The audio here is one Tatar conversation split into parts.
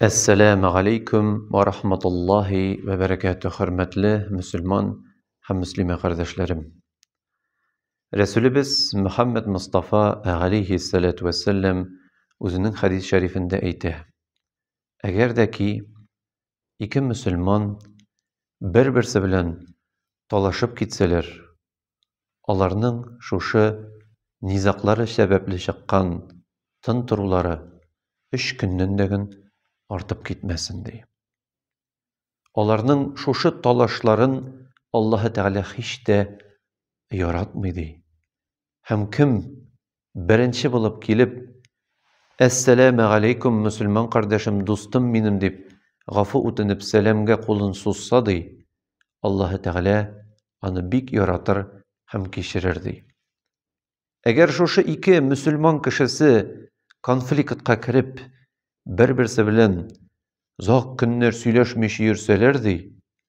Әссәләмә галәйкүм вә рахматуллаһи вә бәрәкәтү, хөрмәтле мөселман һәм мөслимә кардәшләрем. Рәсүлебез Мөхәммәд Мостафа галәйһи сәләтү вә сәлләм үзенең хәдис шәрифендә әйтә, әгәр дә ки ике мөселман бер-берсе белән талашып китсәләр, аларның шушы низаклары сәбәпле чыккан тын торулары өч көннән дә гөн артып китмәсен ди. Аларның шушы талашларын Аллаһы Тәгалә һич тә яратмый ди. Һәм кем Беренче булып килеп, Әссәләмә галәйкүм, мөселман кардәшем, дустым минем, дип, гафу үтенеп, сәламгә кулын сузса, ди, Аллаһы Тәгалә аны бик яратыр һәм кичерер, ди. Әгәр шушы ике мөселман кешесе конфликтка кереп, бер-берсе белән озак көннәр сөйләшмичә йөрсәләр, ди,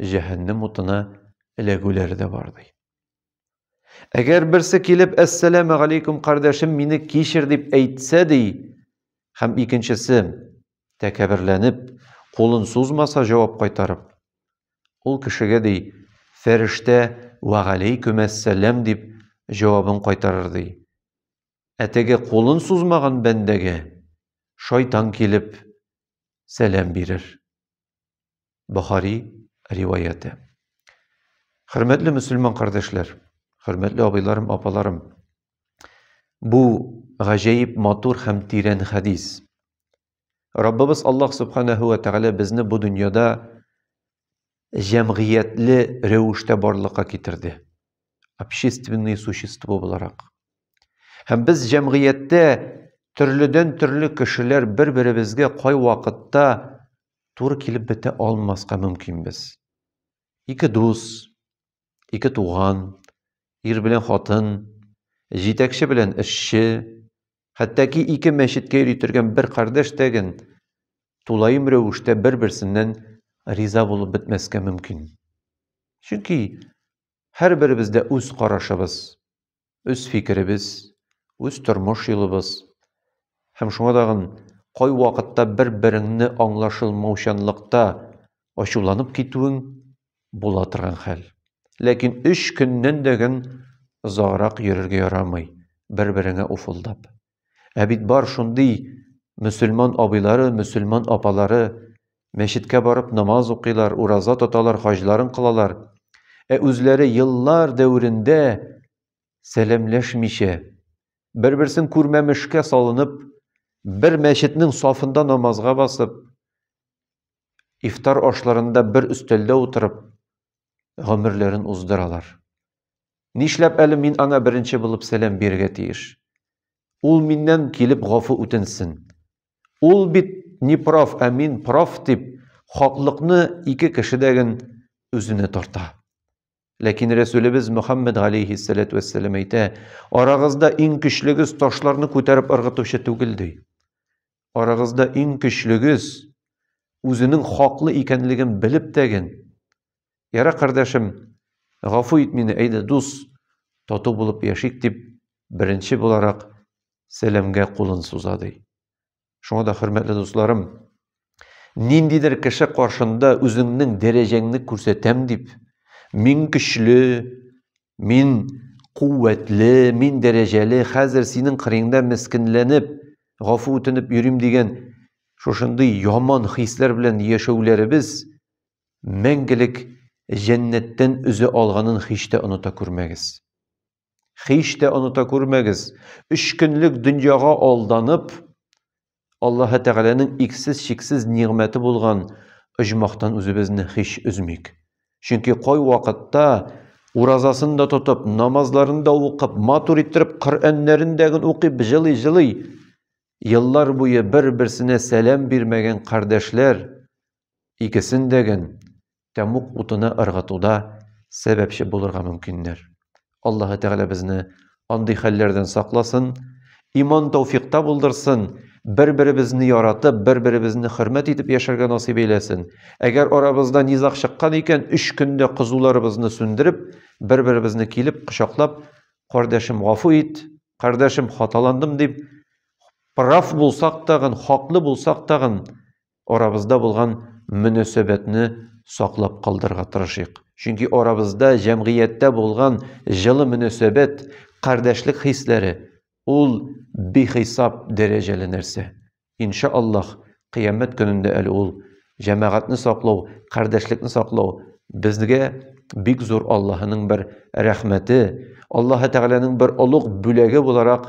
җәһәннәм утына эләгүләре дә бар ди. Әгәр берсе килеп, әссәләмә галейкум, кардәшем, мине кичер дип әйтсә ди, һәм икенчесе тәкәберләнеп, кулын сузмаса җавап кайтарып, ул кешегә ди, фәрештә вә галейкум әссәләм дип җавабын кайтарыр ди. Ә теге кулын сузмаган бәндәгә шайтан килеп сәлам бирер. Бохари риваяте. Хөрмәтле мөселман кардәшләр, хөрмәтле абыйларым, апаларым, бу гаҗәеп матур һәм тирән хәдис. Раббыбыз Аллаһ Субханаһу ва Тәгалә безне бу дөньяда җәмгыятьле рәвештә барлыкка китерде. Общественные существо буларак. Һәм без җәмгыятьтә төрледән төрле кешеләр бер-беребезгә кай вакытта туры килеп бетә алмаска мөмкинбез. Ике дус, ике туган, ир белән хатын, җитәкче белән эшче, хәтта ки ике мәчеткә йөритергән бер кардәш тәген тулаем рәвештә бер-берсеннән риза булып бетмәскә мөмкин. Чөнки һәрберебездә үз карашыбыз, үз фикеребез, үз тормыш юлыбыз. Һәм шуңа тагын кайвакытта бер-береңне аңлашылмаучанлыкта ачуланып китүең була торган хәл. Ләкин өч көннән дә гөн озаграк йөрергә ярамый, бер-береңә уфылдап. Ә бит бар шундый мөселман абыйлары, мөселман апалары, мәчеткә барып намаз укыйлар, ураза тоталар, хаҗларын кылалар. Ә үзләре еллар дәверендә сәламләшмичә, бер-берсен күрмәмешкә салынып, бер мәчетнең сафында намазга басып, ифтар ашларында бер өстәлдә утырып, гомерләрен уздыралар. Нишләп әле мин аңа беренче булып сәлам бирергә тиеш? Ул миннән килеп гафу үтенсен. Ул бит не прав, ә мин прав дип, хаклыкны ике кешедәген үзенә тарта. Ләкин Рәсүлебез Мөхәммәд галәйһиссәләтү вәссәлам әйтә, арагызда иң көчлегез ташларны күтәреп ыргытучы түгел ди. Арагызда иң көчлегез үзенең хаклы икәнлеген белеп тәген Ярар, кардәшем, гафу ит мине, әйдә, дус, тату булып яшик, дип, беренче буларак Сәләмгә кулын суза, ди. Шуңа да, хөрмәтле дусларым, ниндидер кеше каршында үзеңнең дәрәҗәңне күрсәтәм дип, мин көчле, мин куәтле, мин дәрәҗәле, хәзер синең кырыеңда мескенләнеп, гафу үтенеп йөрим дигән шушындый яман хисләр белән яшәүләребез мәңгелек җәннәттән өзә алганын һич тә оныта күрмәгез. Һич тә оныта күрмәгез, өч көнлек дөньяга алданып, Аллаһы Тәгаләнең иксез-чиксез нигъмәте булган оҗмахтан үзебезне һич өзмик. Чөнки кай вакытта уразасын да тотып, намазларын да укып, матур иттереп Коръәннәрен дә гын укып, җылый-җылый еллар буе бер-берсенә сәлам бирмәгән кардәшләр икесен дә гэн тәмук утына ыргытуда сәбәпче булырга мөмкиннәр. Аллаһы Тәгалә безне андый хәлләрдән сакласын, иман тауфикта булдырсын, бер-беребезне яратып, бер-беребезне хөрмәт итеп яшәргә насыйп әйләсен. Әгәр арабызда низаг чыккан икән, өч көндә кызуларыбызны сүндереп, бер-беребезне килеп кочаклап, кардәшем, гафу ит, кардәшем, хаталандым дип, прав булсак тагын, хаклы булсак тагын, арабызда булган мөнәсәбәтне саклап калдырырга тырышыйк. Чөнки арабызда, җәмгыятьтә булган җылы мөнәсәбәт, кардәшлек хисләре ул бихисап дәрәҗәле нәрсә. Иншааллаһ, кыямәт көнендә әле ул җәмәгатьне саклау, кардәшлекне саклау безгә бик зур Аллаһының бер рәхмәте, Аллаһы Тәгаләнең бер олуг бүләге буларак